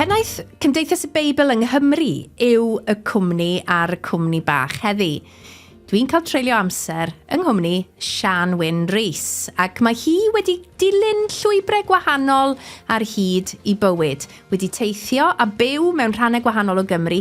Pennaeth Cymdeithas y Beibl yng Nghymru yw y cwmni a'r cwmni bach heddi. Dwi'n cael treulio amser yng nghwmni Sian Wyn Rees ac mae hi wedi dilyn llwybrau gwahanol ar hyd i bywyd, wedi teithio a byw mewn rhannau gwahanol o Gymru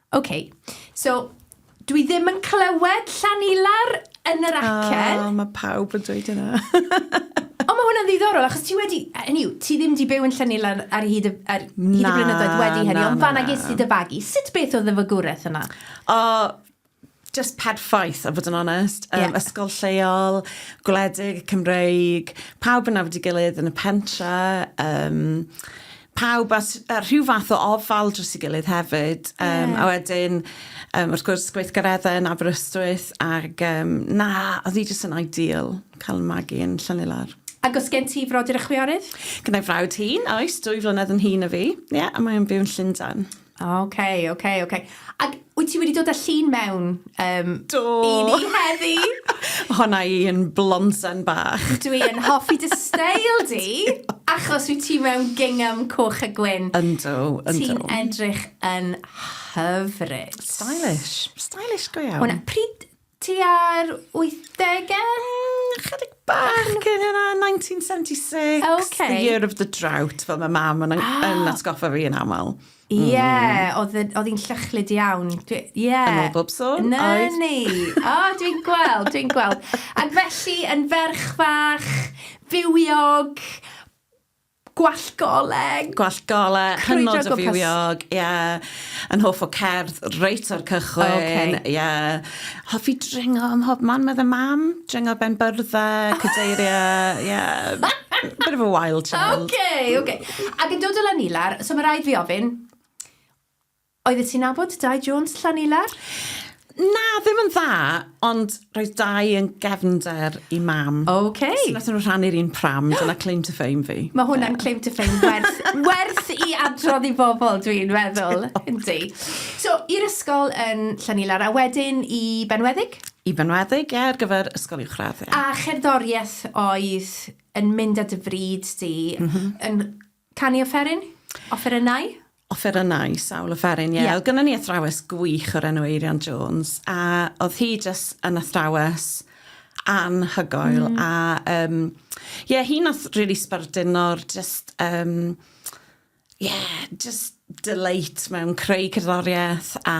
Ok, so dwi ddim yn clywed llan ilar yn yr acen. O, mae pawb yn dweud yna. Ond mae hwnna'n ddiddorol, achos ti wedi... Hynny yw, ti ddim wedi byw yn Llynil ar, ar hyd y, ar hyd y blynyddoedd wedi hynny, ond fanna ges ti dy fagu. Sut beth oedd y fagwraeth yna? O, just pad ffaith, a fod yn onest. Um, yeah. Ysgol lleol, gwledig, Cymreig, pawb yn afod i gilydd yn y pentra. Um, pawb a, a rhyw fath o ofal dros i gilydd hefyd. Um, yeah. A wedyn, um, wrth gwrs, gweithgareddau yn Aberystwyth, ac um, na, oedd hi jyst yn ideal cael magu yn Llanillar. Ac os gen ti frodyr y chwiorydd? Gyda'i frawd hun, oes, dwy flynedd yn hun o fi. Ie, yeah, a mae'n byw yn Llundain. Ok, ok, ok. Ac wyt ti wedi dod â llun mewn um, Do. i ni heddi? Honna i yn blonsen bach. Dwi yn hoffi dy steil di, achos wyt ti mewn gingham coch a gwyn. Yndw, yndw. Ti'n edrych yn hyfryd. Stylish. Stylish go iawn. Hwna, pryd Tua'r wythdegau? Mm, chydig bach cyn hynna, 1976. Ok. The year of the drought, fel mae mam yn, ah. yn atgoffa fi yn aml. Ie, yeah, mm. oedd hi'n llychlyd iawn. Ie. Yeah. Yn ôl bob sôn, no, oedd. ni. O, oh, dwi'n gweld, dwi'n gweld. Ac felly, yn ferch fach, bywiog, Gwallt goleg! Gwallt goleg, hynod o fywiog, ie. Yn hoff o cerdd, reit o'r cychwyn. Oce. Ie. Hoffi dringo ym mhob man, medda Mam. Dringo ben byrdde, cadeirie, ie. Bit of a wild child. Oce, oce. Ac yn dod o Lanilwr, so ma' raid fi ofyn, Oeddet ti'n nabod Dai Jones, Llanilar? Na, ddim yn dda, ond roedd Dai yn gefnder i Mam. Ok. So nathon nhw rhannu'r un pram, dyna claim to fame fi. Mae hwnna'n claim to fame werth, werth i adrodd i bobl, dwi'n meddwl. Yndi. So, i'r ysgol yn Llanilar, a wedyn i Benweddig? I Benweddig, ie, ar gyfer ysgol uwchradd, ie. A cherddoriaeth oedd yn mynd â dy fryd di yn Canu offeryn? Offerynnau? Offerynnau, sawl offeryn, ie. Ie. Oedd gynnon ni athrawes gwych o'r enw Eirian Jones, a oedd hi jyst yn athrawes anhygoel. Mm. A um, yeah, hi nath really sbarduno'r just, um, yeah, just delight mewn creu cerddoriaeth a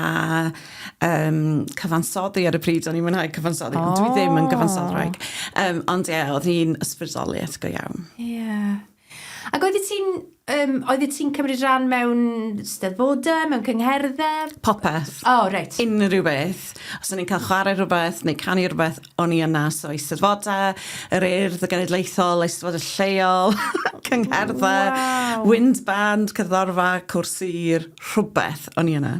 um, cyfansoddi ar y pryd. O'n i'n mwynhau cyfansoddi, oh. ond dwi ddim yn gyfansoddraig. Um, ond ie, yeah, oedd hi'n ysbrydoliaeth go iawn. Ie. Yeah. Ac oeddet ti'n, um, oeddet ti'n cymryd rhan mewn steddfodau, mewn cyngherddau? Popeth. O, oh, reit. Right. Unrhyw beth. Os o'n i'n cael chwarae rhywbeth neu canu rhywbeth, o'n i yna. So, eisteddfodau, yr urdd, y genedlaethol, eisteddfodau lleol, cyngherddau, wow. wind band, cyddorfa, cwrs sir, rhywbeth o'n i yna.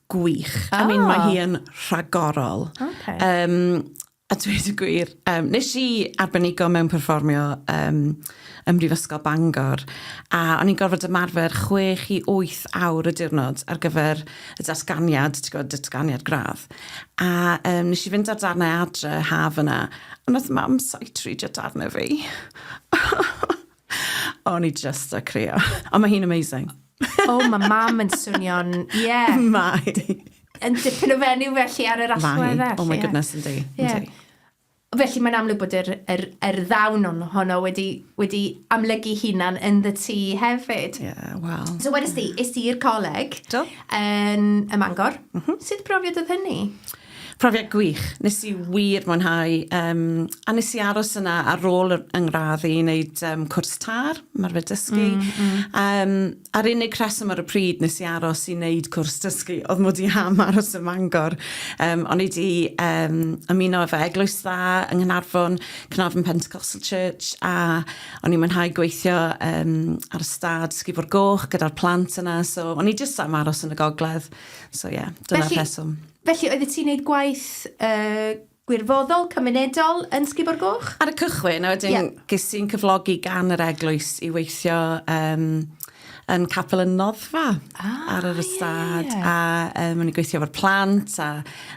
gwych. I mean, mae hi yn rhagorol. Okay. Um, a dweud y gwir, um, nes i arbenigo mewn perfformio um, ym Mhrifysgol Bangor, a o'n i'n gorfod ymarfer 6 i 8 awr y diwrnod ar gyfer y datganiad, ti'n gwybod, datganiad gradd. A um, nes i fynd ar darnau adre haf yna, a nath mam saitri darnau fi. O'n i just a crio. Ond mae hi'n amazing. oh, mae mam yn swnio'n... Yeah. Mae. Yn dipyn o fenyw felly ar yr allwedd. Mae. Oh my goodness, yndi. Yeah. Felly mae'n amlwg bod yr, yr, yr ddawn on, honno wedi, wedi amlygu hunan yn ddy ti hefyd. Ie, yeah, wel. So wedys di, is i'r coleg Do. yn y Mangor. Mm -hmm. Sut brofiad oedd hynny? Profiad gwych, nes i wir mwynhau yym a nes i aros yna ar ôl yr yng ngradd i neud yym cwrs târ, ymarfer dysgu. Mm mm. Yym a'r unig rheswm ar y pryd nes i aros i neud cwrs dysgu o'dd mod i am aros ym Mangor yym o'n i 'di yym ymuno efo Eglwys Dda yng Nghanarfon, Carnarvon Pentecostal Church a o'n i'n mwynhau gweithio yym ar y stad Ysgubor Goch gyda'r plant yna so o'n i jyst am aros yn y gogledd. So ie, yeah, dyna'r rheswm. Felly, oeddet ti'n neud gwaith uh, gwirfoddol, cymunedol yn Sgibo'r Goch? Ar y cychwyn, a wedyn yeah. ges i'n cyflogi gan yr eglwys i weithio um, yn capel y noddfa ah, ar yr ystad yeah. a um, o'n i'n gweithio efo'r plant a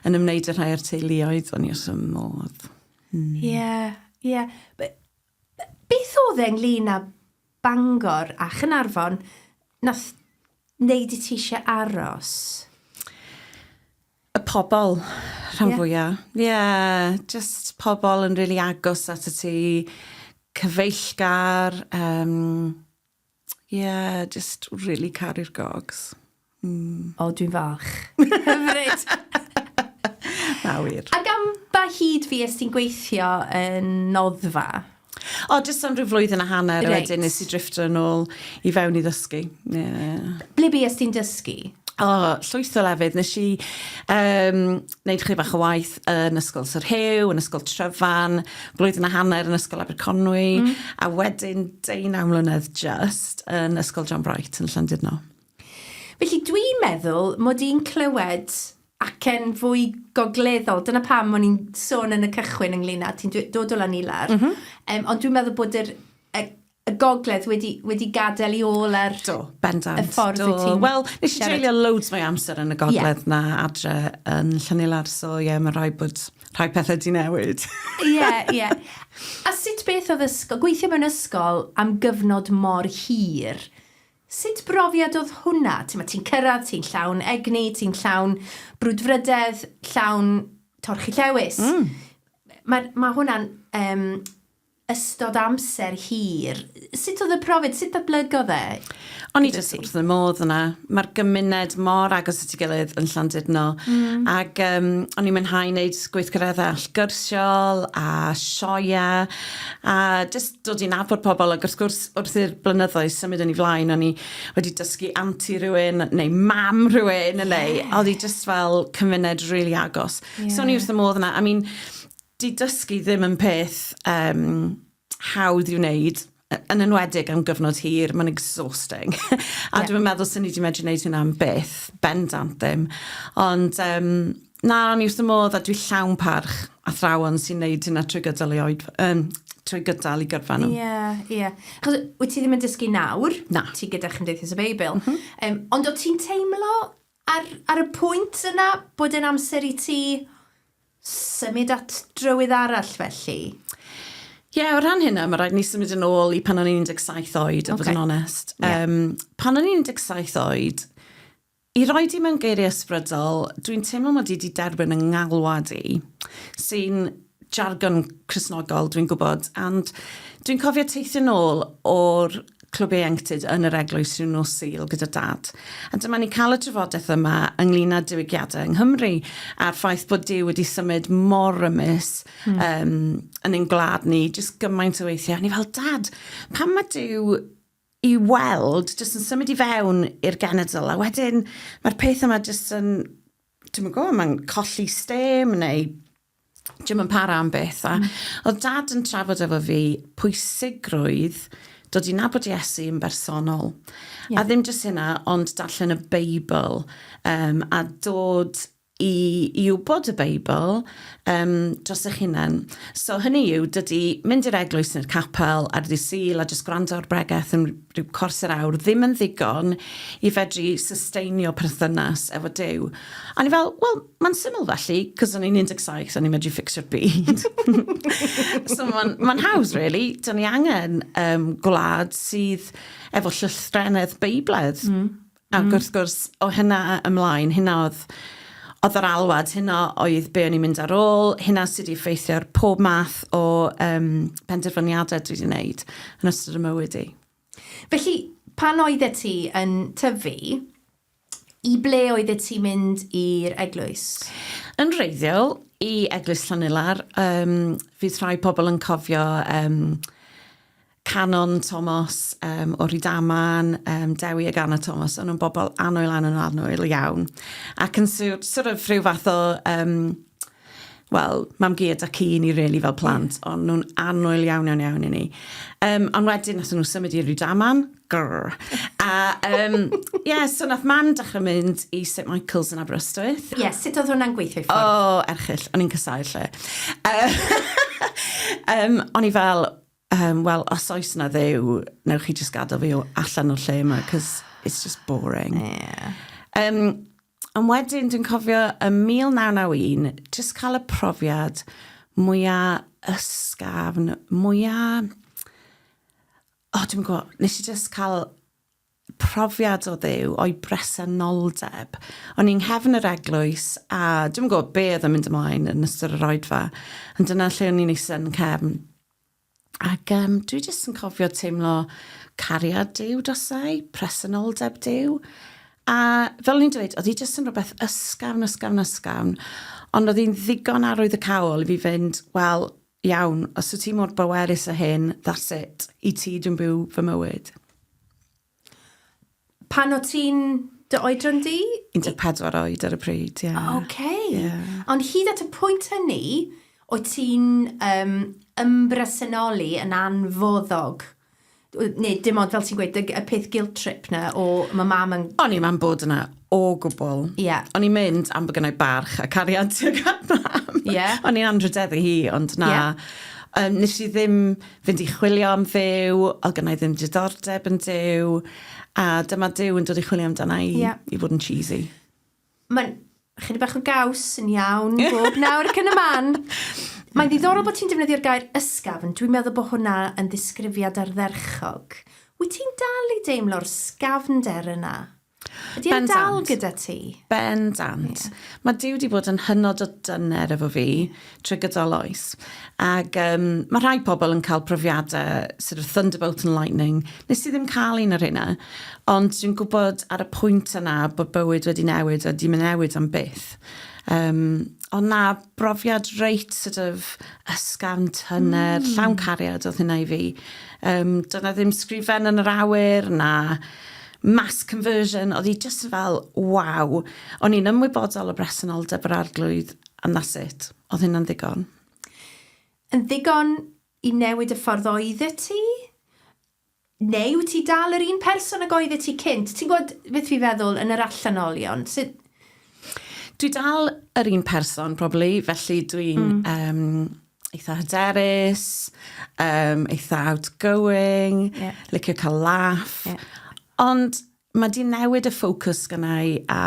yn ymwneud â rhai o'r teuluoedd o'n i os ym modd. Hmm. Ie, ie. Beth oedd e ynglŷn â Bangor a Chaernarfon nath neud i ti isie aros? Y pobol rhan fwya. Ie? Ie, jyst pobol yn rili agos atat ti, cyfeillgar, yym Yeah, just really caru'r gogs. Mm. O, dwi'n falch. Hyfryd! Na wir. Ac am ba hyd fi ys ti'n gweithio yn noddfa? O, jyst am rhyw flwyddyn a hanner, right. wedyn nes i drifftio yn ôl i fewn i ddysgu. Yeah. Ble bi ys ti'n dysgu? O, oh, llwyth o lefydd. Nes i um, wneud chydig bach o waith yn Ysgol Sir Huw, yn Ysgol Tryfan, blwyddyn a hanner yn Ysgol Aberconwy... Mm. ...a wedyn deunaw mlynedd jyst yn Ysgol John Bright yn Llandudno. Felly dwi'n meddwl mod i'n clywed acen fwy gogleddol, dyna pam o'n i'n sôn yn y cychwyn ynglyn â ti'n dod o Lanilar. M-hm. Yym ond dwi'n meddwl bod yr y y gogledd wedi, wedi gadael i ôl ar do, bendant, y ffordd do. ti'n... Wel, nes i treulio loads mwy amser yn y gogledd yeah. na adre yn Llanilar, so ie, yeah, mae rhai bod rhai pethau di newid. Ie, yeah, ie. Yeah. A sut beth oedd ysgol, gweithio mewn ysgol am gyfnod mor hir, sut brofiad oedd hwnna? Ti'n ti cyrraedd, ti'n llawn egni, ti'n llawn brwdfrydedd, llawn torchi llewis. Mm. Mae ma hwnna'n um, ystod amser hir. Sut oedd y profiad? Sut datblygodd e? O'n i jyst wrth fy modd yna. Mae'r gymuned mor agos at ei gilydd yn Llandudno. Mm. Ac um, o'n i'n mynhau wneud gweithgareddau allgyrsiol a sioia a jyst dod i'n nabod pobl. Ac wrth gwrs, wrth i'r blynyddoedd symud yn ei flaen, o'n i wedi dysgu anti rhywun neu mam rhywun yeah. neu oedd hi jyst fel cymuned rili really agos. Yeah. So o'n i wrth y modd yna. I mean, 'Di dysgu ddim yn peth yym hawdd i'w wneud, yn enwedig am gyfnod hir, mae'n exhausting. a dwi'm yn meddwl swn i 'di medru wneud hynna am byth, bendant ddim. Ond um, na, o'n i wrth y modd a dwi llawn parch athrawon sy'n wneud hynna trwy gydol ei oed, um, trwy gydol i gyrfa nhw. Ie, yeah, ie. Yeah. Chos wyt ti ddim yn dysgu nawr? Na. Ti gyda Chymdeithas y Beibl. Mm -hmm. um, ond o ti'n teimlo Ar, ar y pwynt yna bod e'n amser i ti symud at drywydd arall felly? Ie, yeah, o ran hynna, mae rhaid ni symud yn ôl i pan o'n i'n 17 oed, a bod yn onest. Yeah. Um, pan o'n i'n 17 oed, i roi di mewn geiriau ysbrydol, dwi'n teimlo mod i wedi derbyn yng ngalwad i, sy'n jargon Cristnogol, dwi'n gwybod, and dwi'n cofio teithio nôl o'r clwb ieuenctid yn yr eglwys rhyw nos Sul gyda dad. A dyma ni'n cael y trafodaeth yma ynglyn â diwygiadau yng Nghymru a'r ffaith bod Dyw wedi symud mor rymus mm. um, yn ein gwlad ni, jyst gymaint o weithiau. Ni fel, dad, pan mae Dyw i weld, jyst yn symud i fewn i'r genedl, a wedyn mae'r peth yma jyst yn, dwi'n gwybod, mae'n colli stem neu Dwi'm yn para am byth. A oedd Dad yn trafod efo fi pwysigrwydd dod i nabod Iesu yn bersonol. Yeah. A ddim jyst hynna, ond darllen y Beibl um, a dod i, i wybod y Beibl um, dros eich hunain. So hynny yw, dydy mynd i'r eglwys neu'r capel ar ddi syl a jyst gwrando ar bregeth yn rhyw cors yr awr ddim yn ddigon i fedru susteinio perthynas efo Dyw. A ni fel, wel, Mae'n syml felly, cos o'n i'n 17, o'n i'n medru ffixio'r byd. so mae'n ma hawdd, really. Dyna ni angen um, gwlad sydd efo llythrenedd beibledd. Mm. Ac mm. wrth gwrs, o hynna ymlaen, hynna oedd oedd yr alwad, hynna oedd be o'n i'n mynd ar ôl, hynna sydd wedi effeithio ar pob math o um, penderfyniadau dwi wedi wneud yn ystod y mywyd i. Felly, pan oeddet ti yn tyfu, I ble oeddet ti'n mynd i'r eglwys? Yn wreiddiol, i Eglwys Llanellar. Um, fydd rhai pobl yn cofio um, Canon Thomas um, o Rydaman, um, Dewi ag Anna Thomas, o'n nhw'n bobl anwyl, anwyl, anwyl iawn. Ac yn sort of rhyw fath o um, wel, mam-gu a dad-cu i ni rili fel plant, o'n nhw'n annwyl iawn, iawn, iawn i ni. Um, ond wedyn, nath nhw symud i Rydaman, grrr. A, um, yeah, so nath mam dechrau mynd i St Michael's yn Aberystwyth. Ie, yeah, sut oedd hwnna'n gweithio i ffwrdd? O, oh, erchill, o'n i'n cysau lle. um, o'n i fel, um, wel, os oes na ddew, newch chi jyst gadael fi allan o'r lle yma, cos it's just boring. Yeah. Um, Ond wedyn dwi'n cofio ym 1991 jyst cael y profiad mwya ysgafn, mwya... O, dwi'm yn gwybod, wnes i jyst cael profiad o Dduw, o'i bresenoldeb. O'n i yng nghefn yr eglwys a dwi'm yn gwybod be oedd yn mynd ymlaen yn ystod yr Oedfa, ond dyna lle o'n i'n eistedd yn y cefn. Ac um, dwi jyst yn cofio teimlo cariad Dyw dosau, presenoldeb Dyw. A fel ni'n dweud, oedd hi jyst yn rhywbeth ysgafn, ysgafn, ysgafn. Ond oedd hi'n ddigon arwydd y cawl i fi fynd, wel, iawn, os wyt ti mor bowerus a hyn, that's it. I ti dwi'n byw fy mywyd. Pan o ti'n dy oedran di? 14 oed ar y pryd, ie. Yeah. OK. Yeah. Ond hyd at y pwynt hynny, o ti'n um, ymbresenoli yn anfoddog neu dim ond fel ti'n gweud y, y peth guilt trip na o mae mam yn... O'n i'n mam bod yna O gwbl. Ie. O'n i'n mynd am bo' gynnai barch a cariad tuag at mam. Ie. O'n i'n anrhydeddu hi ond na. Ie. Yym nesh i ddim fynd i chwilio am Dduw odd gynnai ddim diddordeb yn Duw a dyma Duw yn dod i chwilio amdana i... Ie. ...i fod yn cheesy. Ma'n chydig bach o gaws yn iawn bob nawr ac yn y man. Mae'n ddiddorol bo' ti'n defnyddio'r gair ysgafn, dwi'n meddwl bo' hwnna yn ddisgrifiad ardderchog. Wyt ti'n dal i deimlo'r sgafnder yna? Ydy e'n dal gyda ti? Bendant. Mae Duw wedi bod yn hynod o dyner efo fi trwy gydol oes. Ac um, mae rhai pobl yn cael profiadau sort of thunderbolt and lightning. Nes i ddim cael un o'r hynna. Ond dwi'n gwybod ar y pwynt yna bod bywyd wedi newid a dim yn newid am byth. Um, ond na, brofiad reit sort of ysgafn, tyner, mm. llawn cariad oedd hynna i fi. Um, dyna ddim sgrifen yn yr awyr, na mass conversion, oedd hi jyst fel waw! O'n i'n ymwybodol o bresenoldeb yr Arglwydd and that's it. Oedd hynna'n ddigon. Yn ddigon i newid y ffordd oeddet ti? Neu wyt ti dal yr un person ag oeddet ti cynt? Ti'n gwybod beth fi'n feddwl yn yr allanolion? Sut... Dwi dal yr un person probably, felly dwi'n... Mm. ...yym eitha hyderus, um, eitha outgoing, yeah. licio cael laff. Yeah. Ond mae di newid y ffocws gynnau a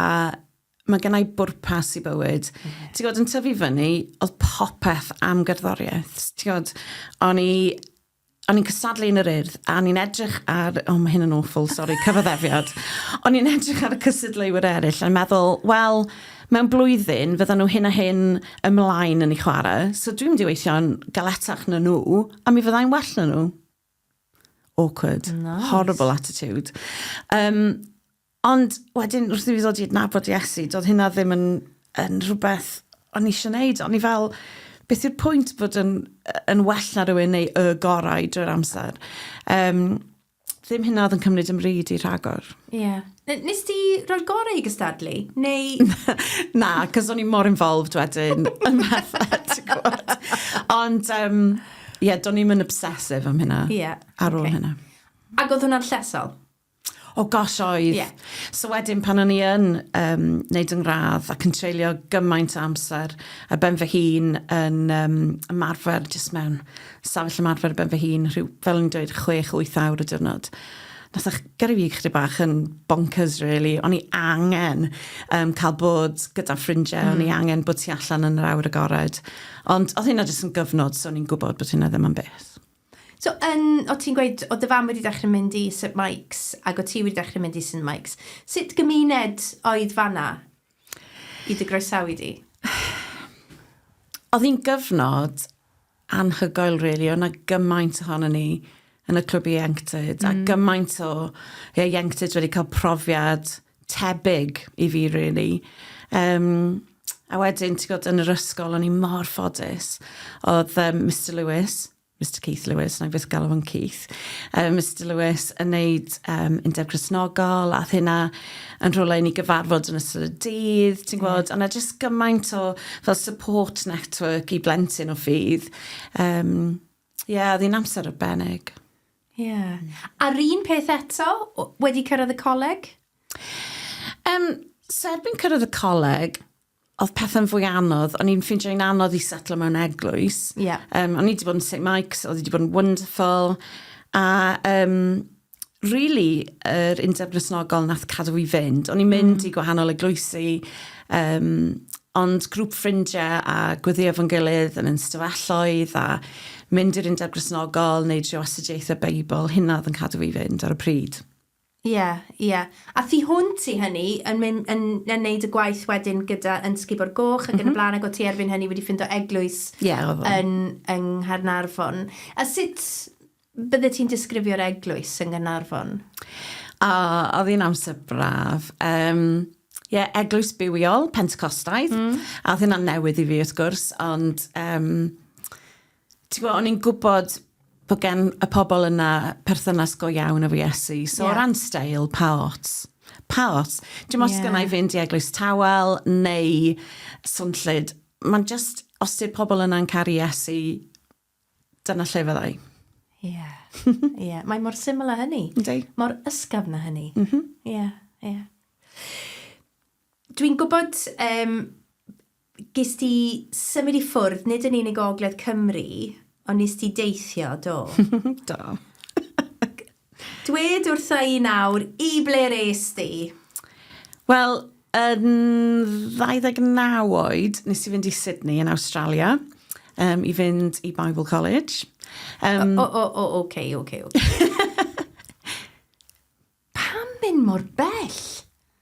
mae gynnau bwrpas i bywyd. Mm. Mm-hmm. Ti'n gwybod, yn tyfu fyny, oedd popeth am gerddoriaeth. Ti'n gwybod, o'n i o'n i'n cystadlu yn yr Urdd, a o'n i'n edrych ar... O, mae hyn yn awful, sori, cyfaddefiad. O'n i'n edrych ar y cystadleuwyr eraill a'n meddwl, wel, mewn blwyddyn, fyddan nhw hyn a hyn ymlaen yn ei chwarae, so dwi'n mynd i weithio'n galetach na nhw, a mi fyddai'n well na nhw. Awkward. Nice. Horrible attitude. Um, Ond wedyn, wrth i fi ddod i adnabod Iesu, doedd hynna ddim yn, yn rhywbeth o'n eisiau gwneud. O'n i fel, beth yw'r pwynt bod yn, yn well na rhywun neu y gorau drwy'r amser? Um, ddim hynna oedd yn cymryd yn ryd i rhagor. Ie. Yeah. Nes ti roi'r gorau i gystadlu? Neu... na, cos o'n i mor involved wedyn yn bethau, ti'n gwybod. Ond, ie, um, yeah, do'n i'n obsessive am hynna. Ie. Yeah. Ar ôl okay. hynna. Ac oedd hwnna'n llesol? O oh gosh, oedd. Yeah. So wedyn pan o'n i yn um, neud yng ngradd ac yn treulio gymaint o amser ar ben fy hun yn um, ymarfer, jyst mewn safell ymarfer ar ben fy hun, rhyw, fel yn dweud, 6-8 awr y diwrnod. Nath eich gyrru fi chdi bach yn bonkers, really. O'n i angen um, cael bod gyda ffrindiau, mm. o'n i mm. angen bod ti allan yn yr awr agored. Ond oedd hynna jyst yn gyfnod, so o'n i'n gwybod bod hynna ddim yn beth. So, yn, o ti'n gweud, o dy fam wedi dechrau mynd i St Mike's ac o ti wedi dechrau mynd i St Mike's. Sut gymuned oedd fanna i dy groesawu di? Oedd hi'n gyfnod anhygoel, really. Oedd na gymaint ohono ni yn y clwb ieuenctid, mm. a gymaint o ieuenctid wedi cael profiad tebyg i fi really. Um, a wedyn, ti'n gwybod, yn yr ysgol, o'n i mor ffodus. Oedd um, Mr Lewis, Mr Keith Lewis, na fydd galw yn Keith, um, Mr Lewis yn neud um, undeb Cresnogol, a hynna yn rhywle i ni gyfarfod yn ystod y dydd, ti'n gwybod, mm. a na jyst gymaint o fel support network i blentyn o ffydd. Um, Ie, yeah, oedd hi'n amser arbennig. Ie. A'r un peth eto, wedi cyrraedd y coleg? Yym, so erbyn cyrraedd y coleg, oedd pethau'n fwy anodd. O'n i'n ffeindio hi'n anodd i setlo mewn eglwys. Ie. Um, o'n i wedi bod yn St Mike's, oedd wedi bod yn wonderful. A um, really, yr undeb Grisnogol nath cadw i fynd. O'n i'n mynd mm. i gwahanol eglwysi, Um, ond grŵp ffrindiau a gweddio fo'n gilydd yn yn stafelloedd a mynd i'r undeb grisnogol neu drio astudiaethau Beibl, hynna oedd yn cadw fi fynd ar y pryd. Ie, yeah, ie. Yeah. A thu hwnt i hynny, yn, mynd, yn, yn neud y gwaith wedyn gyda yn Sgubor Goch ac mm -hmm. yn y mhm. blaen, ac o ti erbyn hynny wedi ffindo eglwys yeah, yn, yng Nghaernarfon. A sut, Byddet ti'n disgrifio'r eglwys yng Nghaernarfon? O, oedd hi'n amser braf. Um, Ie, yeah, eglwys bywiol, Pentecostaidd. Mm. A oedd hynna'n newydd i fi, wrth gwrs, ond... Um, Ti'n gwybod, o'n i'n gwybod bod gen y pobl yna perthynas go iawn efo Iesu. So yeah. o ran stael, pa ots? Pa ots? Dim os yeah. gynnau fynd i eglwys tawel neu swnllyd. Mae'n just, os ydy'r pobl yna'n caru Iesu, Dyna lle fydda i. Ie. Ie. Mae mor syml â hynny. Yndi. Mor ysgafn â hynny. Mhm. Ie. Ie. Dwi'n gwybod um, ges ti symud i ffwrdd, nid yn unig o Ogledd Cymru, ond nes ti deithio, do? do. Dwed wrtha i nawr, i ble res di? Wel, yn 29 oed, nes i fynd i Sydney yn Awstralia, um, i fynd i Bible College. Um, o, o, o, oce, okay, oce, okay, oce. Okay. Pam mynd mor bell?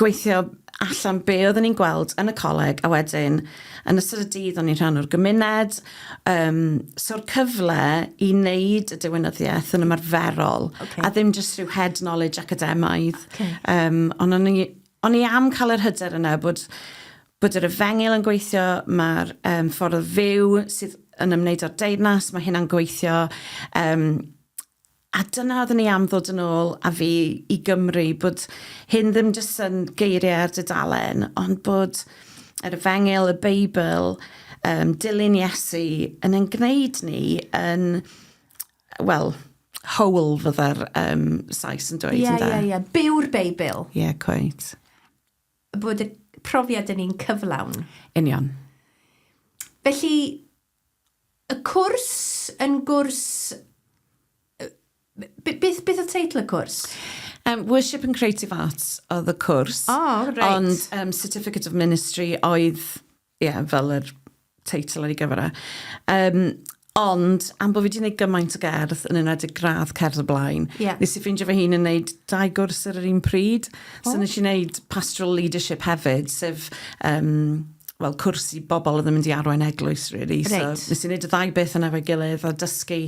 gweithio allan be oedden ni'n gweld yn y coleg a wedyn yn ystod y dydd o'n i'n rhan o'r gymuned um, so'r cyfle i wneud y diwinyddiaeth yn ymarferol okay. a ddim jyst rhyw head knowledge academaidd okay. um, ond o'n i, on i am cael yr hyder yna bod bod yr efengyl yn gweithio mae'r um, ffordd fyw sydd yn ymwneud â'r deyrnas mae hynna'n gweithio um, A dyna oedden ni am ddod yn ôl a fi i Gymru, bod hyn ddim jyst yn geiriau ar dudalen, ond bod yr efengyl, y Beibl, um, dilyn Iesu, yn yn gwneud ni yn, wel, whole fydda'r um, Sais yn dweud, yeah, ynda? Ie, yeah, ie, yeah, ie. Yeah. Byw'r Beibl. Ie, yeah, cweit. Bod y profiad yn un cyflawn. Union. Felly, Y cwrs yn gwrs... Be, beth, beth oedd teitl y cwrs? Um, Worship and Creative Arts oedd y cwrs. O, oh, reit. Right. Ond um, Certificate of Ministry oedd, ie, yeah, fel yr teitl ar ei gyfer e. Um, ond, am bod fi wedi gwneud gymaint o gerdd, yn enwedig gradd cerdd y blaen, yeah. nes i ffeindio fy hun yn gwneud dau gwrs ar yr un pryd. Oh. So nes i wneud pastoral leadership hefyd, sef um, fel cwrs i bobl oedd yn mynd i arwain eglwys, really. Reit. So, nes i wneud y ddau beth yna fe gilydd, a dysgu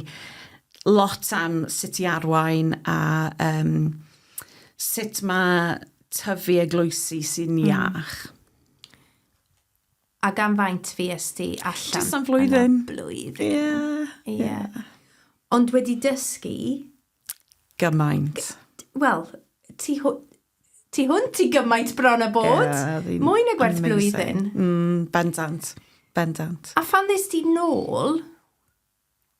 lot am sut i arwain a um, sut mae tyfu eglwysi sy'n mm. iach. A gan faint fi ysdi allan? Just am flwyddyn. Blwyddyn. Ie. Yeah. Yeah. Yeah. Ond wedi dysgu... Gymaint. Wel, ti Ti hwnt i gymaint bron a bod. Mwy na gwerth blwyddyn. Bendant. Bendant. A phan ddes di nôl,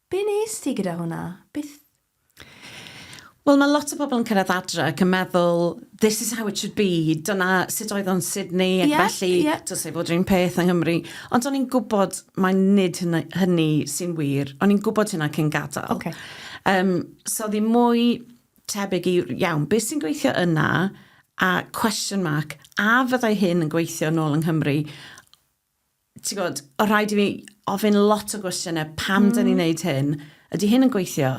be nes di gyda hwnna? Beth... Wel, mae lot o bobl yn cyrraedd adre ac yn meddwl, this is how it should be, dyna sut oedd o'n Sydney, ac felly, dylse fod yr un peth yng Nghymru. Ond o'n i'n gwybod mai nid hynny sy'n wir. O'n i'n gwybod hynna cyn gadael. So oedd hi'n mwy... tebyg i, iawn, beth sy'n gweithio yna, a question mark, a fyddai hyn yn gweithio nôl yng Nghymru? Ti'n gwybod, o rhaid i fi ofyn lot o gwestiynau, pam mm. dyn ni'n neud hyn? Ydy hyn yn gweithio?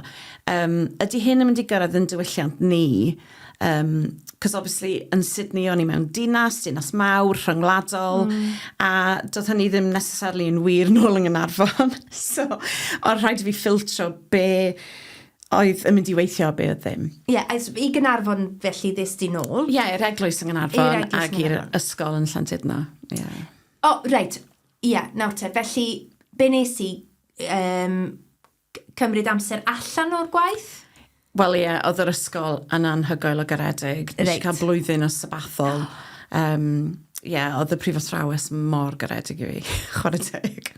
Um, ydy hyn yn mynd i gyrraedd yn diwylliant ni? Um, Cos obviously yn Sydney o'n i mewn dinas, dinas mawr, rhyngwladol, mm. a doedd hynny ddim necessarily yn wir nôl yng Ngynarfon. so, ond rhaid i fi ffiltro be Oedd yn mynd i weithio a be oedd ddim. Ie, es i Gaernarfon felly ddes di nôl? Ie, i'r eglwys yng Nghaernarfon ac i'r ysgol yn Llandudno, ie. O, reit, ie, nawr te, felly be nes i um, cymryd amser allan o'r gwaith? Wel ie, oedd yr ysgol yn anhygoel o garedig. Nes i cael blwyddyn o sabathol. Um, ie, oedd y prifos ffrawes mor garedig i fi, chwarae teg.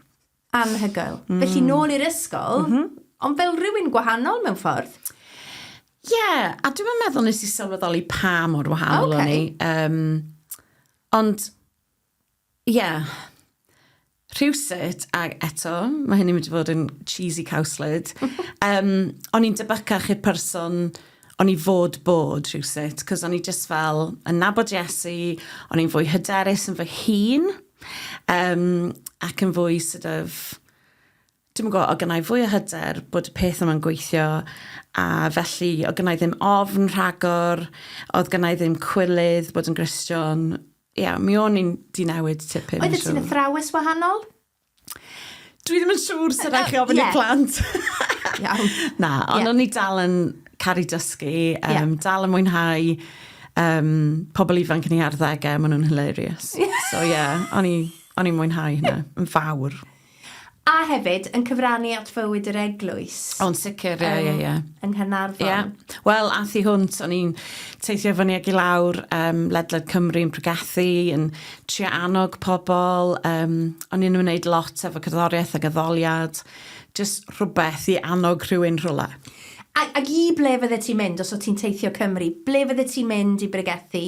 Anhygoel. Mm. Felly nôl i'r ysgol, mm -hmm. ond fel rhywun gwahanol mewn ffordd. Ie, yeah, a dwi'n meddwl nes i sylweddoli pa mor wahanol okay. o'n i. Um, ond, ie, yeah, rhywsut, a eto, mae hynny'n mynd i fod yn cheesy cowslid, um, o'n i'n debycach i'r person o'n i fod bod rhywsut, cos o'n i just fel yn nabod Jessie, o'n i'n fwy hyderus yn fy hun, Yym, ac yn fwy sort of, dwi'm yn gwybod, oedd gennai fwy o hyder bod y peth yma'n gweithio, a felly oedd gennai ddim ofn rhagor, oedd gennai ddim cwilydd bod yn Gristion. Ia, mi o'n i'n di newid tipyn, siŵr. Oeddet ti'n athrawes wahanol? Dwi ddim yn siŵr sut rhaid chi ofyn i plant. Iawn. Na, ond o'n i dal yn caru dysgu, um, dal yn mwynhau um, pobl ifanc yn ei arddegau, maen nhw'n hilarious. so ie, yeah, o'n i'n mwynhau hynna, yn fawr. A hefyd, yn cyfrannu at fywyd yr eglwys. O'n sicr, ie, ie, ie. Yng Nghynarfon. Ie. Wel, a thi hwnt, o'n i'n teithio fyny ag i lawr um, ledled Cymru yn pregethu, yn trio annog pobl, um, o'n i'n ymwneud lot efo cerddoriaeth ac addoliad, jyst rhywbeth i annog rhywun rhywle. Ac, ac i ble fydde ti'n mynd os o ti'n teithio Cymru? Ble fydde ti'n mynd i bregethu?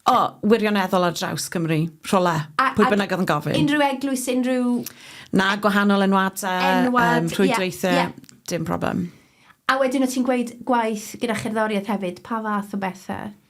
O, oh, wirioneddol ar draws Cymru, rhywle, a, pwy bynnag oedd yn gofyn. Unrhyw eglwys, unrhyw... Na, gwahanol enwadau, Enwad, um, rhwydweithiau, yeah, yeah. dim problem. A wedyn o ti'n gweud gwaith gyda cherddoriaeth hefyd, pa fath o bethau?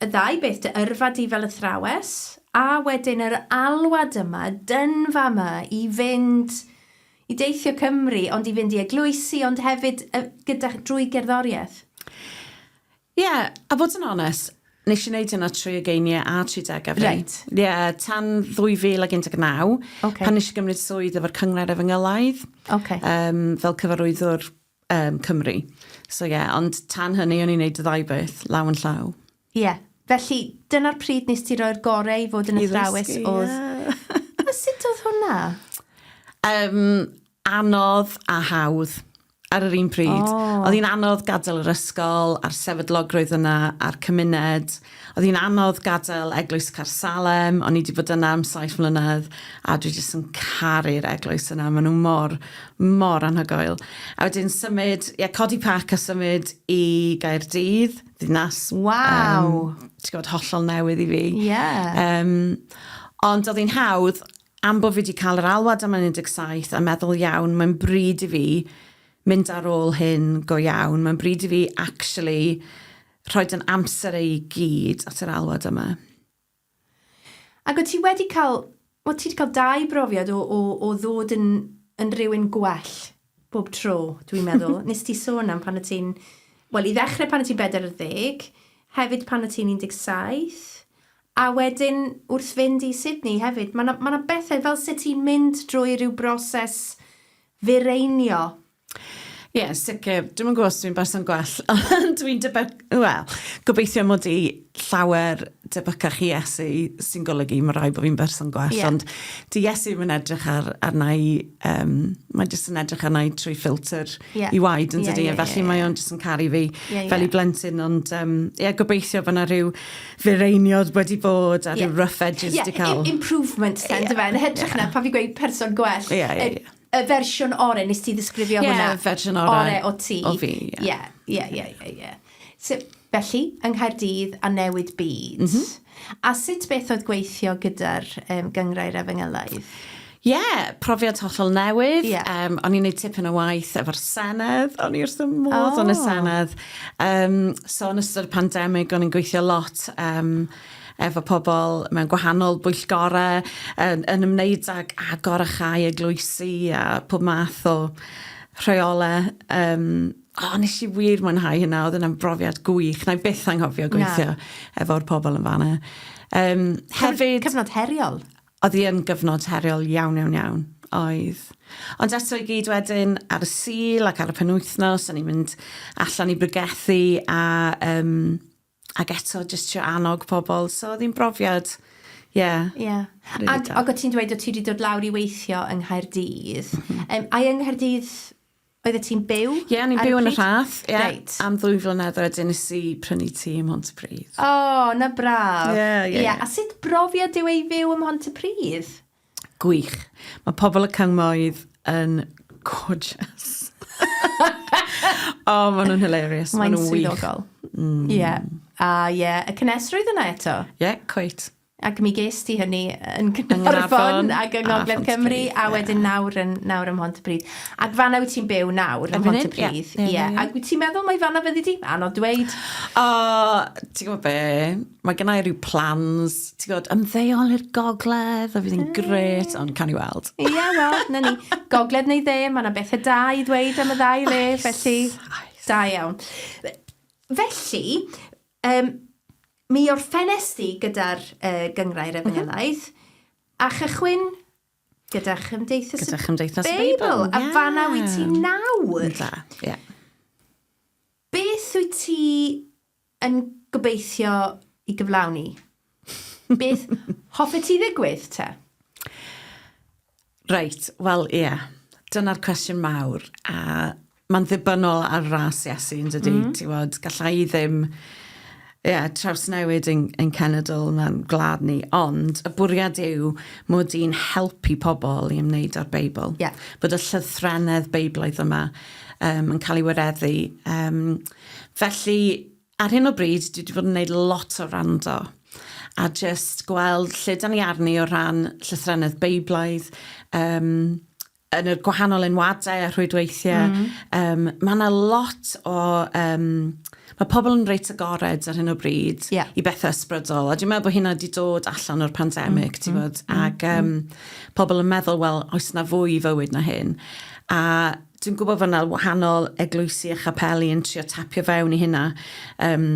Y ddau beth dy yrfa di fel athrawes, a wedyn yr alwad yma, dynfa yma i fynd i deithio Cymru, ond i fynd i eglwysi, ond hefyd y, gyda, drwy gerddoriaeth. Ie, a fod yn onest, nes i wneud hynna trwy ugeinie a tri degau fi. Reit. Ie, tan 2019, okay. pan nes i gymryd swydd efo'r cynghrair efengelaidd, okay. um, fel cyfarwyddwr um, Cymru. So ie, yeah, ond tan hynny o'n i'n neud y ddau beth, law yn llaw. Ie, yeah. felly dyna'r pryd nes ti roi'r gorau i fod yn athrawes oedd... Yeah. a sut oedd hwnna? Um, anodd a hawdd ar yr un pryd. Oh. Oedd hi'n anodd gadael yr ysgol a'r sefydlogrwydd yna a'r cymuned Oedd hi'n anodd gadael eglwys Caersalem, o'n i 'di bod yna am saith mlynedd, a dwi jyst yn caru'r eglwys yna, maen nhw mor, mor anhygoel. A wedyn symud, ie, codi pac a symud i Gaerdydd, ddinas... Waw! Um, ti'n gwybod, hollol newydd i fi. Ie. Yeah. Um, ond oedd hi'n hawdd, am bod fi wedi cael yr alwad am 17 a meddwl iawn, mae'n bryd i fi mynd ar ôl hyn go iawn, mae'n bryd i fi actually Rhoi dy amser ei gyd at yr alwad yma. Ac o't ti wedi cael, o't ti wedi cael dau brofiad o, o, o ddod yn, yn rhywun gwell bob tro, dwi'n meddwl. Nes ti sôn am pan o ti'n, wel, i ddechrau pan o ti'n 40, hefyd pan o ti'n 17, a wedyn wrth fynd i Sydney hefyd. Mae yna, mae yna bethau fel sut ti'n mynd drwy rhyw broses fireinio Ie, yn sicr. Dwi'm yn gwybod os dwi'n berson gwell, ond dwi'n debygol... Wel, gobeithio mod i llawer debycach i Iesu, sy'n golygu mae'n rhaid bod fi'n berson gwell. Ie. Ond 'di Iesu ddim yn edrych ar- arna i... yym, mae jyst yn edrych arna i trwy ffiltr... Ie. ...ei waed, yn dydy? Ie, ie, ie, ie. Felly, mae o'n jyst yn caru fi... Ie, ie. ...fel ei blentyn. Ond, yym, ie, gobeithio bod 'na ryw fireiniodd wedi bod... Ie. ...a ryw rough edges 'di cael... Ie, im- improvements 'te, yndyfe? Ie, ie. Yn hytrach na pan fi'n gweud person gwell... Ie, ie, ie. Y fersiwn ore, nes ti ddisgrifio yeah, hwnna? Ie, fersiwn ore. Ore o ti. O fi, ie. Ie, ie, ie, ie, ie. So, felly, yng Nghaerdydd a newid byd. Mm -hmm. A sut beth oedd gweithio gyda'r um, gyngrau'r efengylaidd? Ie, yeah, profiad hollol newydd. Yeah. Um, o'n i'n neud tipyn o waith efo'r Senedd, o'n i wrth y modd oh. yn y oh. Senedd. Um, so, yn ystod y pandemig, o'n i'n gweithio lot um, efo pobl mewn gwahanol bwyllgorau yn, yn ymwneud ag agor a chau eglwysi a pob math o rheolau. Um, o, oh, nes i wir mwynhau hynna, oedd yna'n brofiad gwych. Na i byth anghofio gweithio efo'r pobl yn fanna. Um, hefyd... Cyfnod heriol. Oedd hi yn gyfnod heriol iawn, iawn, iawn. Oedd. Ond eto i gyd wedyn ar y sil ac ar y penwythnos, o'n i'n mynd allan i brygethu a um, Ac eto jyst trio annog pobl, so oedd hi'n brofiad, ie... Ie. ...rili da. Ac ac o' ti'n dweud o' ti 'di dod lawr i weithio yng Nghaerdydd. M-hm. Yym ai yng Nghaerdydd oeddet ti'n byw ar y pryd? Ie o'n i'n byw yn y Rhath ie. Reit. Am ddwy flynedd a wedyn nes i prynu tŷ ym Mhontypridd. O 'na braf. Ie ie ie. Ie a sut brofiad yw e i fyw ym Mhontypridd? Gwych. Mae pobl y cyngmoedd yn gorgeous. oh, maen nhw'n hilarious. Mae'n nhw swyddogol. Mm. Yeah. A ah, ie, yeah. y cynesrwydd yna eto. Ie, yeah, cweit. Ac mi ges ti hynny yn Gynarfon ac yng ah, Ngogledd Cymru, a wedyn nawr yn, nawr ym Mhontypridd. Ac fanna wyt ti'n byw nawr ym Mhontypridd. Ie, yeah, yeah, yeah. ac wyt ti'n meddwl mae fanna fyddi di? Anodd dweud. O, oh, ti'n gwybod be? Mae gennau rhyw plans, ti'n gwybod, ymddeol i'r gogledd, a fydd hi'n gret, ond can i weld. Ie, yeah, wel, na ni. Gogledd neu dde, mae yna bethau da i ddweud am y ddau le, oes, felly... Oes. Da iawn. Felly, um, mi o'r ffenest i gyda'r uh, gyngrair mhm. efengylaeth, mm -hmm. a chychwyn gyda Chymdeithas, gyda Chymdeithas y Beibl. Beibl. Yeah. A fanna wyt ti nawr. Da, ie. Yeah. Beth wyt ti yn gobeithio i gyflawni. Beth hoffet ti ddigwydd, te? Reit, wel, ie. Yeah. Dyna'r cwestiwn mawr. A mae'n ddibynnol ar ras Iesu, yn dydy. Mm. Ti'n fod, gallai i ddim yeah, trawsnewid yn, yn cenedl na'n gwlad ni, ond y bwriad yw mod i'n helpu pobl i ymwneud â'r Beibl. Yeah. Bod y llythrennedd Beiblaidd yma um, yn cael ei wareddu um, Felly, ar hyn o bryd, dwi 'di bod yn neud lot o wrando, a jyst gweld lle 'dan ni arni o ran llythrennedd Beiblaidd, yym, yn y gwahanol enwadau a rhwydweithie. Mm. Yym, ma' 'na lot o, yym, ma' pobl yn reit agored ar hyn o bryd... Ie. ...i bethe ysbrydol, a dwi'n meddwl bo' hynna 'di dod allan o'r pandemic... Mm. ...ti wbod, ag yym pobl yn meddwl, wel, oes 'na fwy i fywyd na hyn? A Dwi'n gwybod fod yna wahanol eglwysi a chapeli yn trio tapio fewn i hynna. Um,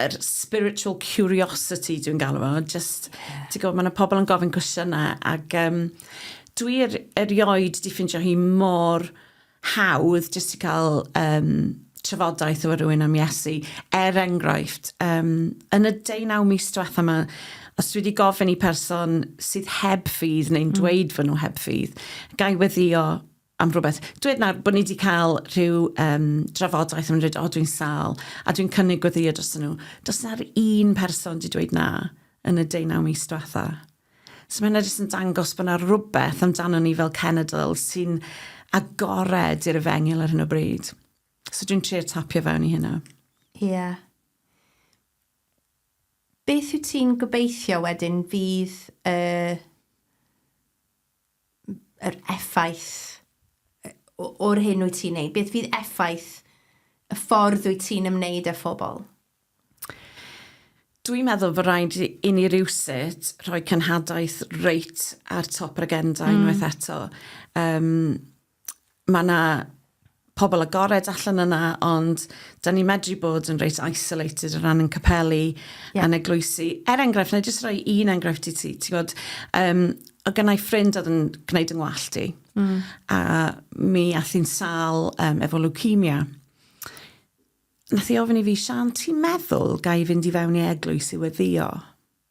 yr spiritual curiosity dwi'n galw fo. Just, yeah. ti'n gwybod, mae yna pobl yn gofyn cwestiynau ac um, dwi er, erioed di ffindio hi mor hawdd jyst i cael um, trafodaeth efo rhywun am Iesu. Er enghraifft, um, yn y deunaw mis diwetha yma, os dwi wedi gofyn i person sydd heb ffydd neu'n mm. dweud mm. fy nhw heb ffydd, gai weddio am rhywbeth. Dweud nawr bod ni wedi cael rhyw um, drafodaeth yn dweud, o dwi'n sal, a dwi'n cynnig gweddio dros nhw. Does na'r un person wedi dweud na yn y deunaw mis diwetha. So mae hynna jyst yn dangos bod yna rhywbeth amdano ni fel cenedl sy'n agored i'r efengyl ar hyn o bryd. So dwi'n trio tapio fewn i hynna. Ie. Yeah. Beth wyt ti'n gobeithio wedyn fydd y uh, yr effaith o'r hyn wyt ti'n neud? Beth fydd effaith y ffordd wyt ti'n ymwneud â phobl? Dwi'n meddwl fod rhaid i ni rywsut rhoi cenhadaeth reit ar top yr agenda mm. unwaith eto. Um, mae yna pobl agored allan yna, ond da ni medru bod yn reit isolated o ran yn capelu yeah. a'n eglwysi. Er enghraifft, na i jyst rhoi un enghraifft i ti. Ti gwybod, um, o gynnau ffrind oedd yn gwneud yng ngwallt i. Mm. A mi ath i'n sal um, efo leukemia. Nath i ofyn i fi, Sian, ti'n meddwl ga i fynd i fewn i eglwys i weddio?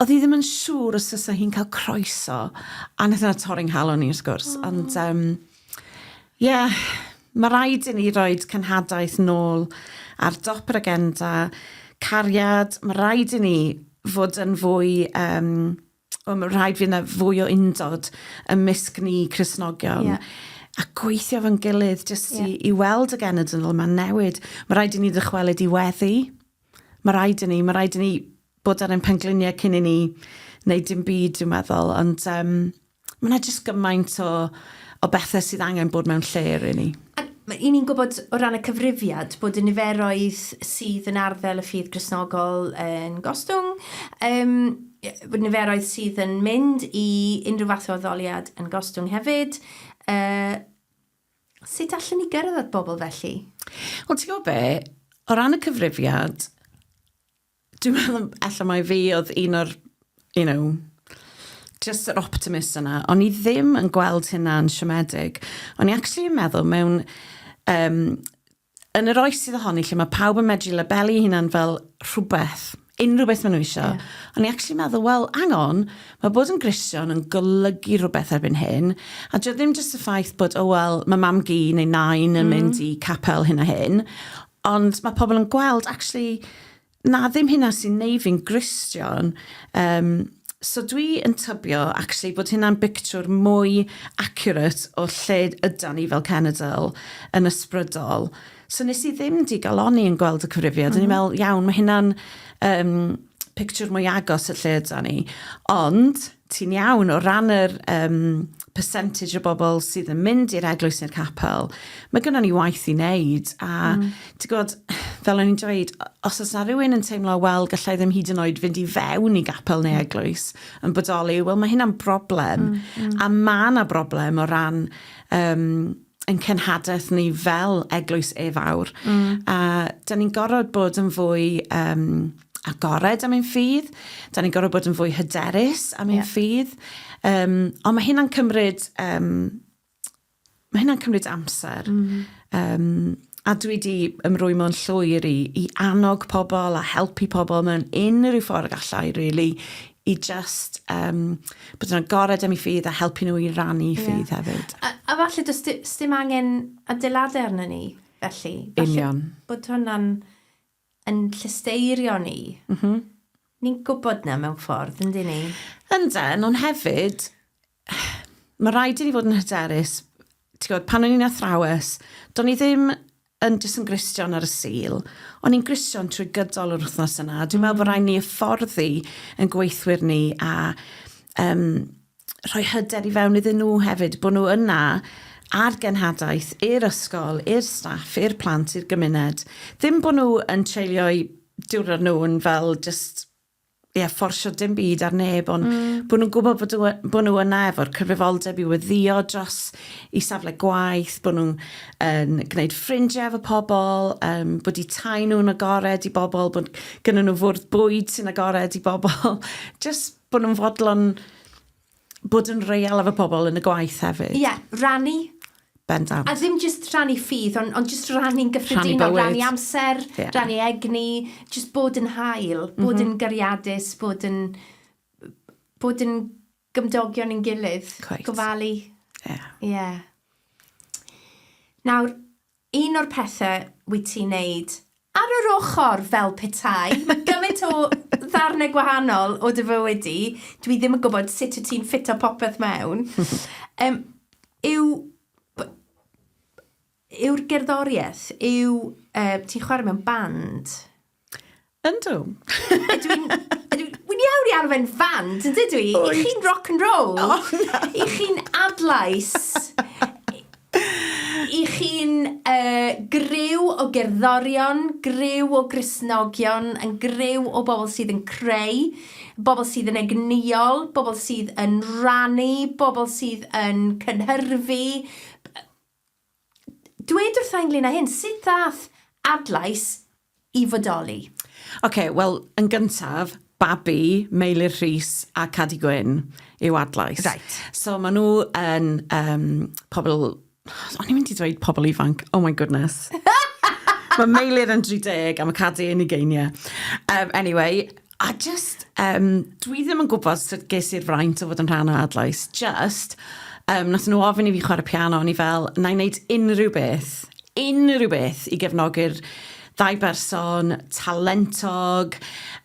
Oedd hi ddim yn siŵr os fysa hi'n cael croeso, a wnaeth yna torri nghalon i wrth gwrs, oh. ond um, yeah, mae rhaid i ni roed cenhadaeth nôl ar dop yr agenda, cariad, mae rhaid i ni fod yn fwy, um, o, mae rhaid fi yna fwy o undod ym mysg ni Cresnogion. Yeah a gweithio fo'n gilydd jyst yeah. i, i weld y genedl yma'n newid. Mae rhaid i ni ddychwelyd i weddi. Mae rhaid i ni, mae rhaid i ni bod ar ein pengliniau cyn i ni wneud dim byd, dwi'n meddwl. Ond um, mae yna jyst gymaint o, o bethau sydd angen bod mewn lle i ni. I ni'n gwybod o ran y cyfrifiad bod y niferoedd sydd yn arddel y ffydd grisnogol yn gostwng, um, bod niferoedd sydd yn mynd i unrhyw fath o addoliad yn gostwng hefyd. Uh, Sut allen ni gyrraedd at bobl felly? Wel, ti'n gwybod be? O ran y cyfrifiad, dwi'n meddwl allan mai fi oedd un o'r, you know, just yr optimist yna. O'n i ddim yn gweld hynna'n siomedig. O'n i actually yn meddwl mewn um, yn yr oes sydd ohoni lle mae pawb yn medru labelu hunan fel rhywbeth, unrhyw beth maen nhw eisiau, yeah. o'n i actually meddwl, wel, hang on, mae bod yn grision yn golygu rhywbeth erbyn hyn, a dwi ddim jyst y ffaith bod, o oh, wel, mae mam gi neu nain yn mm. mynd i capel hyn a hyn, ond mae pobl yn gweld, actually, na ddim hynna sy'n neu fi'n Gristion. Um, so dwi yn tybio, actually, bod hynna'n bictiwr mwy accurate o lle yda ni fel cenedl yn ysbrydol. So nes i ddim digaloni yn gweld y cyfrifiad. Mm -hmm. O'n i'n meddwl, iawn, mae hynna'n um, pictiwr mwy agos y lle yda ni. Ond, ti'n iawn, o ran yr um, percentage o bobl sydd yn mynd i'r eglwys neu'r capel, mae gennym ni waith i wneud. A mm. ti'n gwybod, fel o'n i'n dweud, os oes na rhywun yn teimlo, wel, gallai ddim hyd yn oed fynd i fewn i gapel neu mm. eglwys yn bodoli, wel, mae hynna'n broblem. Mm, mm. A mae yna broblem o ran um, yn cenhadaeth ni fel eglwys e fawr. Mm. A da ni'n gorfod bod yn fwy um, agored am ein ffydd, da ni'n gorfod bod yn fwy hyderus am ein yeah. ffydd. Um, ond mae hynna'n cymryd, um, mae hynna'n cymryd amser. Mm. Um, a dwi wedi ymrwy mewn llwyr i, i annog pobl a helpu pobl mewn unrhyw ffordd gallai, really, i jyst um, bod yn agored am ei ffydd a helpu nhw i rannu yeah. ffydd hefyd. A, a falle does dim angen adeiladau arno ni, felly. Falle Union. Bod hwnna'n yn llysteirio ni. Mm -hmm. Ni'n gwybod na mewn ffordd, yndyn ni? Ynda, ond hefyd, mae rhaid i ni fod yn hyderus. Ti'n gwybod, pan o'n i'n athrawes, do'n i ddim yn jyst yn Gristion ar y Sul, o'n i'n Gristion trwy gydol yr wythnos yna. Dwi'n meddwl bod rhaid ni hyfforddi yn gweithwyr ni a um, rhoi hyder i fewn iddyn nhw hefyd, bod nhw yna ar genhadaeth i'r ysgol, i'r staff, i'r plant, i'r gymuned. Ddim bod nhw yn treulio'u diwrnod nhw'n fel just ie, fforsio dim byd ar neb, ond mm. bod nhw'n gwybod bod, nhw, bod nhw yna efo'r cyfrifoldeb i weddio dros i safle gwaith, bod nhw'n um, gwneud ffrindiau efo pobl, um, bod i tai nhw'n agored i bobl, bod gyda nhw fwrdd bwyd sy'n agored i bobl. Just bod nhw'n fodlon Bod yn real efo pobl yn y gwaith hefyd. Ie, rannu. Bendant. A ddim just rannu ffydd, ond, ond just rannu'n gyffredinol. Rannu amser, yeah. rannu egni, just bod yn hael, bod mm -hmm. yn gariadus, bod yn, bod yn gymdogion yn gilydd. Quite. Gofalu. Ie. Yeah. Yeah. Nawr, Un o'r pethe wyt ti'n neud ar yr ochr, fel petai, mae gymaint o ddarnau gwahanol o dy fywyd di, dwi ddim yn gwybod sut wyt ti'n ffito popeth mewn, um, yw, yw'r gerddoriaeth, yw, uh, ti'n chwarae mewn band? Yndw. Ydw i'n... Ydw i... Wi'n iawn i arwain fand, yn dydw i? Wyt. I chi'n rock and roll. O, na. I chi'n adlais. I chi'n uh, gryw o gerddorion, gryw o grisnogion, yn gryw o bobl sydd yn creu, bobl sydd yn egnïol, bobl sydd yn rannu, bobl sydd yn cynhyrfu, Dwed wrtha ynglyn â hyn, sut ddaeth Adlais i fodoli? Ok, wel, yn gyntaf, babi Meilir Rhys a Cadi Gwyn yw Adlais. Reit. So maen nhw yn um, pobl... O'n i'n mynd i dweud pobl ifanc, oh my goodness. Mae Meilir yn 30 a mae Cadi yn ugeiniau. Um, anyway, A jyst, yym, dwi ddim yn gwybod sut ges i'r fraint o fod yn rhan o Adlais, jyst, um, nath nhw ofyn i fi chwarae piano, o'n i fel, na i wneud unrhyw beth, unrhyw beth i gefnogi'r ddau berson talentog,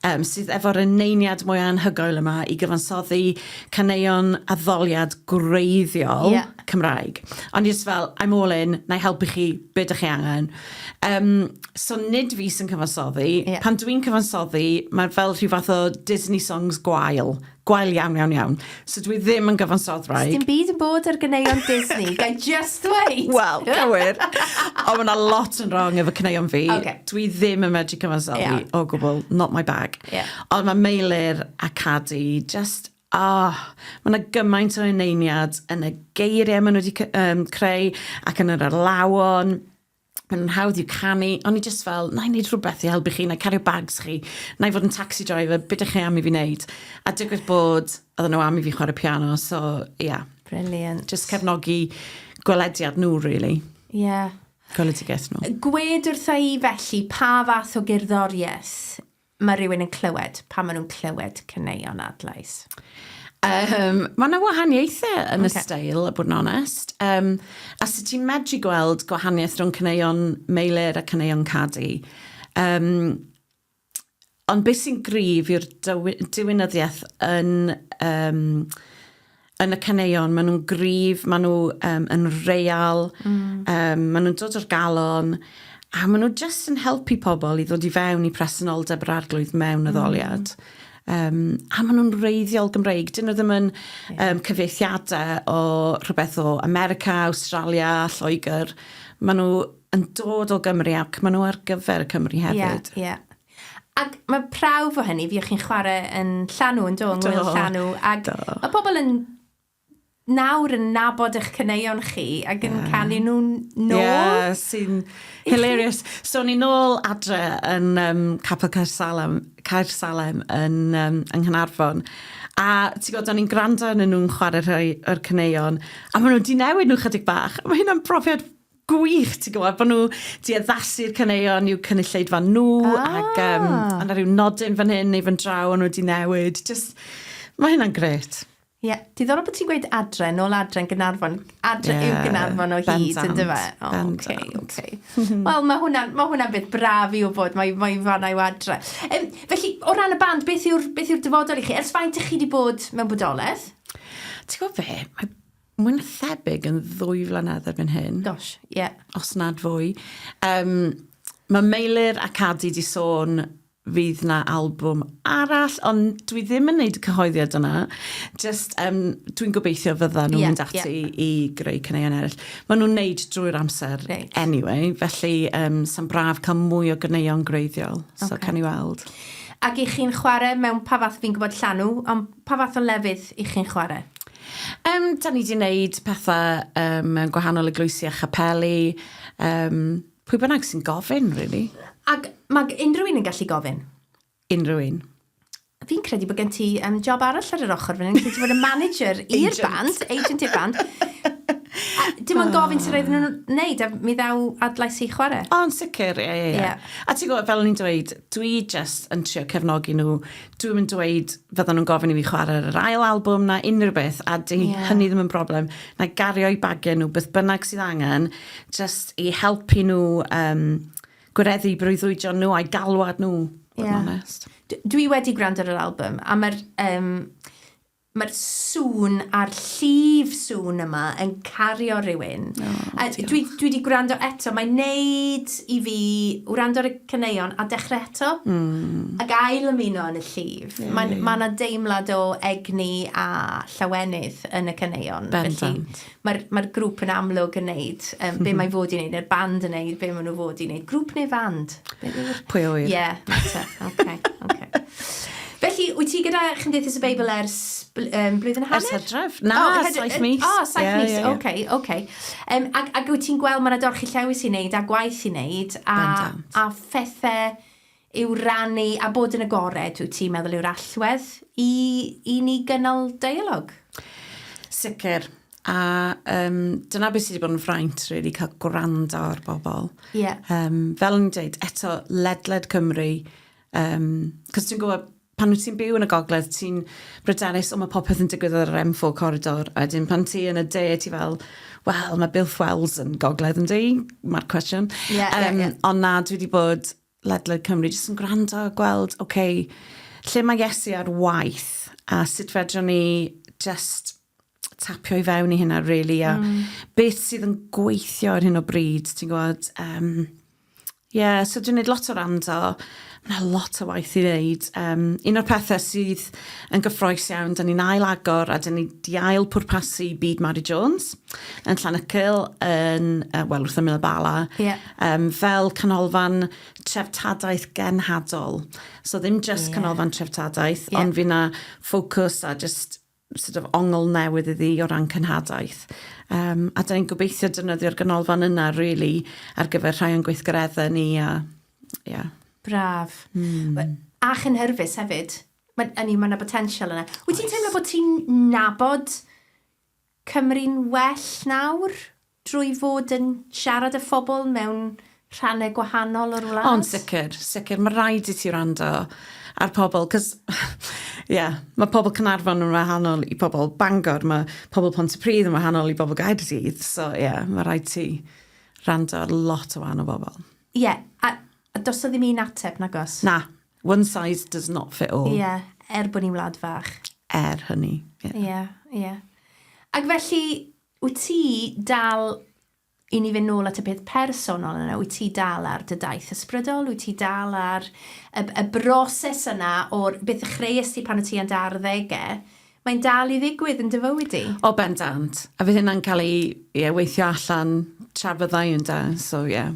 um, sydd efo'r yneiniad mwy anhygoel yma i gyfansoddi caneuon addoliad gwreiddiol. Yeah. Cymraeg. O'n i jyst fel, I'm all in, na i helpu chi, be dych chi angen. Um, so nid fi sy'n cyfansoddi. Yeah. Pan dwi'n cyfansoddi, mae'n fel rhyw fath o Disney songs gwael. Gwael iawn, iawn, iawn. So dwi ddim yn gyfansoddraig. Dim byd yn bod ar gyneuon Disney, gai just wait. Wel, cywir. Ond mae lot yn wrong efo cyneuon fi. Okay. Dwi ddim yn medru cyfansoddi yeah. o gwbl, not my bag. Yeah. Ond mae Meilir a Cadi just Oh, mae 'na gymaint o eneiniad yn y geiriau maen nhw wedi um, creu ac yn yr arlawon. Maen nhw'n hawdd i'w canu, ond ni jyst fel, na i wneud rhywbeth i helpu chi, na i cario bags chi, na i fod yn taxi driver, beth ydych chi am i fi wneud? A digwydd bod, oedden nhw am i fi chwarae piano, so, ia. Yeah. Brilliant. Just cefnogi gwelediad nhw, really. Ie. Yeah. Gweledigaeth nhw. Gwed wrtha i felly pa fath o gerddoriaeth mae rhywun yn clywed pan maen nhw'n clywed caneuon adlais? Um, mae yna wahaniaethau yn okay. y stael, a bod yn onest. Um, a sut ti'n medru gweld gwahaniaeth rhwng caneuon meilir a caneuon cadu? Um, ond beth sy'n grif yw'r diwinyddiaeth yn... Um, yn y caneuon, maen nhw'n gryf, maen nhw um, yn real, mm. um, maen nhw'n dod o'r galon, a maen nhw jyst yn helpu pobl i ddod i fewn i presenoldeb yr arglwydd mewn y ddoliad. Mm. Um, a maen nhw'n reiddiol Gymreig. Dyn nhw ddim yn yeah. um, cyfeithiadau o rhywbeth o America, Australia, Lloegr. Maen nhw yn dod o Gymru ac maen nhw ar gyfer y Cymru hefyd. Yeah, yeah. Ac mae prawf o hynny, fi o'ch chi'n chwarae yn llanw, yn do, yng Ngwyl Llanw. Ac mae pobl yn nawr yn nabod eich cyneuon chi ac yn yeah. canu nhw'n nôl. Yeah, sy'n hilarious. So ni'n nôl adre yn um, Capel Caer Salem, Caer Salem yn, um, yng Nghynarfon. A ti'n gwybod, o'n i'n gwrando yn nhw'n chwarae rhai o'r cyneuon, a maen nhw wedi newid nhw chydig bach. Mae hynna'n profiad gwych, ti'n gwybod, bod nhw di addasu'r caneuon i'w cynulleidfa nhw, ah. ac um, a na rhyw nodyn fan hyn neu fan draw, ond wedi newid. Just, mae hynna'n gret. Ie, yeah. diddorol bod ti'n gweud adre, nôl adre yn Gynarfon. Adre yeah, yw Gynarfon o hyd, yn dyfa. Oh, okay, okay. Wel, mae hwnna'n ma hwnna beth braf i wybod, mae, mae fanna i'w adre. Um, felly, o ran y band, beth yw'r yw dyfodol i chi? Ers faint ych chi wedi bod mewn bodolaeth? Ti'n gwybod fe, mae mwy na thebyg yn ddwy flynedd erbyn hyn. Gosh, ie. Yeah. Os nad fwy. Um, mae Meilir a Cadi di sôn fydd na albwm arall, ond dwi ddim yn neud y cyhoeddiad yna. Just, um, dwi'n gobeithio fydda nhw'n yeah, mynd ati yeah. i greu cyneuon eraill. Mae nhw'n neud drwy'r amser right. anyway, felly um, sy'n braf cael mwy o gyneuon greiddiol. Okay. So, can i weld. Ac i chi'n chwarae mewn pa fath, fi'n gwybod llanw, ond Pa fath o lefydd y'ch chi'n chwarae? Yym, 'dan ni 'di 'neud pethe yym yn gwahanol eglwysi a chapeli, yym, pwy bynnag sy'n gofyn, rili. Ac ma' g- unrhyw un yn gallu gofyn? Unrhyw un. Fi'n credu bod gen ti yym job arall ar yr ochor fan 'yn, lle ti'n bod yn manager i'r band, agent i'r band. A dim ond gofyn sut roedden nhw'n 'neud a mi ddaw adlais i chwarae. O yn sicr, ie, ie, ie. Ie. A ti'n gwbod, fel o'n i'n dweud, dwi jyst yn trio cefnogi nhw, dwi'm yn dweud fyddan nhw'n gofyn i fi chwarae ar yr ail albwm na unrhyw beth, a di yeah. hynny ddim yn broblem. Na gario i bagiau nhw beth bynnag sydd angen, just i helpu nhw um, gwireddu breuddwydion nhw a'i galwad nhw, yeah. honest. Dwi wedi gwrando ar yr albwm, a mae'r... Um, Mae'r sŵn a'r llif sŵn yma yn cario rhywun. O, A dwi, diolch. dwi di gwrando eto, mae'n neud i fi wrando ar y caneuon a dechrau eto. Ac ail ymuno yn y llif. Ie, Mae'n, ie. ma' 'na deimlad o egni a llawenydd yn y caneuon. Felly, Bendant. mae'r mae'r grŵp yn amlwg yn neud um, be mhm. mae fod i'n neud, neu'r band yn neud be maen nhw fod i'n neud. Grŵp neu fand? Pwy o wir? Ie, yeah, okay, okay. Felly, wyt ti gyda Chymdeithas y Beibl ers um, blwyddyn hanner? Ers hydref? Na, oh, hyd, saith mis. O, oh, saith yeah, mis, yeah, yeah. oce, okay, oce. Okay. Um, ac, ac wyt ti'n gweld mae yna dorchi llewis i wneud a gwaith i wneud a, a phethau yw rannu a bod yn agored, wyt ti'n meddwl yw'r allwedd i i ni gynnal deialog? Sicr. A um, dyna beth sydd wedi bod yn fraint, really, cael gwrando ar bobl. Yeah. Um, fel yn dweud, eto, ledled Cymru, um, cos ti'n gwybod, pan wyt ti'n byw yn y gogledd, ti'n bryderus, o mae popeth yn digwydd ar yr M4 corridor, a wedyn pan ti yn y de, ti fel, wel, mae Bill Wells yn gogledd yn di, mae'r cwestiwn. Yeah, um, yeah, yeah. Ond na, dwi wedi bod ledled Cymru, jyst yn gwrando a gweld, oce, okay, lle mae Iesu ar waith a sut fedrwn ni just tapio i fewn i hynna, really, a mm. beth sydd yn gweithio ar hyn o bryd, ti'n gwybod? Um, yeah, so dwi'n gwneud lot o rando, mae lot o waith i wneud. Um, un o'r pethau sydd yn gyffroes iawn, da ni'n ail agor a da ni di ail pwrpasu Byd Mary Jones yn Llanacyl, yn, uh, wel, wrth ymyl y bala. Yeah. um, fel canolfan treftadaeth genhadol. So ddim just yeah. canolfan treftadaeth, yeah. ond fi na ffocws a just sort of ongl newydd iddi o ran cynhadaeth. Um, a da ni'n gobeithio dynyddio'r ganolfan yna, really, ar gyfer rhai o'n gweithgareddau ni. A, yeah. Braf. Mm. A chynhyrfus hefyd. Mae yna ma potensial yna. Wyt ti'n teimlo bod ti'n nabod Cymru'n well nawr drwy fod yn siarad â phobl mewn rhannau gwahanol o'r wlad? O, yn sicr, sicr. Mae rhaid i ti wrando ar pobl, 'cos ie, mae pobl Caernarfon yn wahanol i pobl Bangor, mae pobl Pontypridd yn wahanol i bobl Gaerdydd, so ie, mae rhaid ti wrando ar lot o wahanol bobl. Ie, a A does 'na ddim un ateb, nag oes? Na. One size does not fit all. Ie, er bod ni'n wlad fach. Er hynny, ie. Ie, ie. Ac felly, wyt ti dal, i ni fynd nôl at y peth personol yna, wyt ti dal ar dy daith ysbrydol? Wyt ti dal ar y, y broses yna o'r beth y chreus ti pan o ti yn dy arddegau? Mae'n dal i ddigwydd yn dy fywyd di? O, bendant. A fydd hynna'n cael ei ie, weithio allan tra fyddai yn da, so ie. Yeah.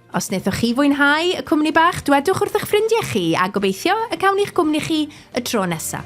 Os wnaethoch chi fwynhau y cwmni bach, dwedwch wrth eich ffrindiau chi a gobeithio y cawn i'ch gwmni chi y tro nesaf.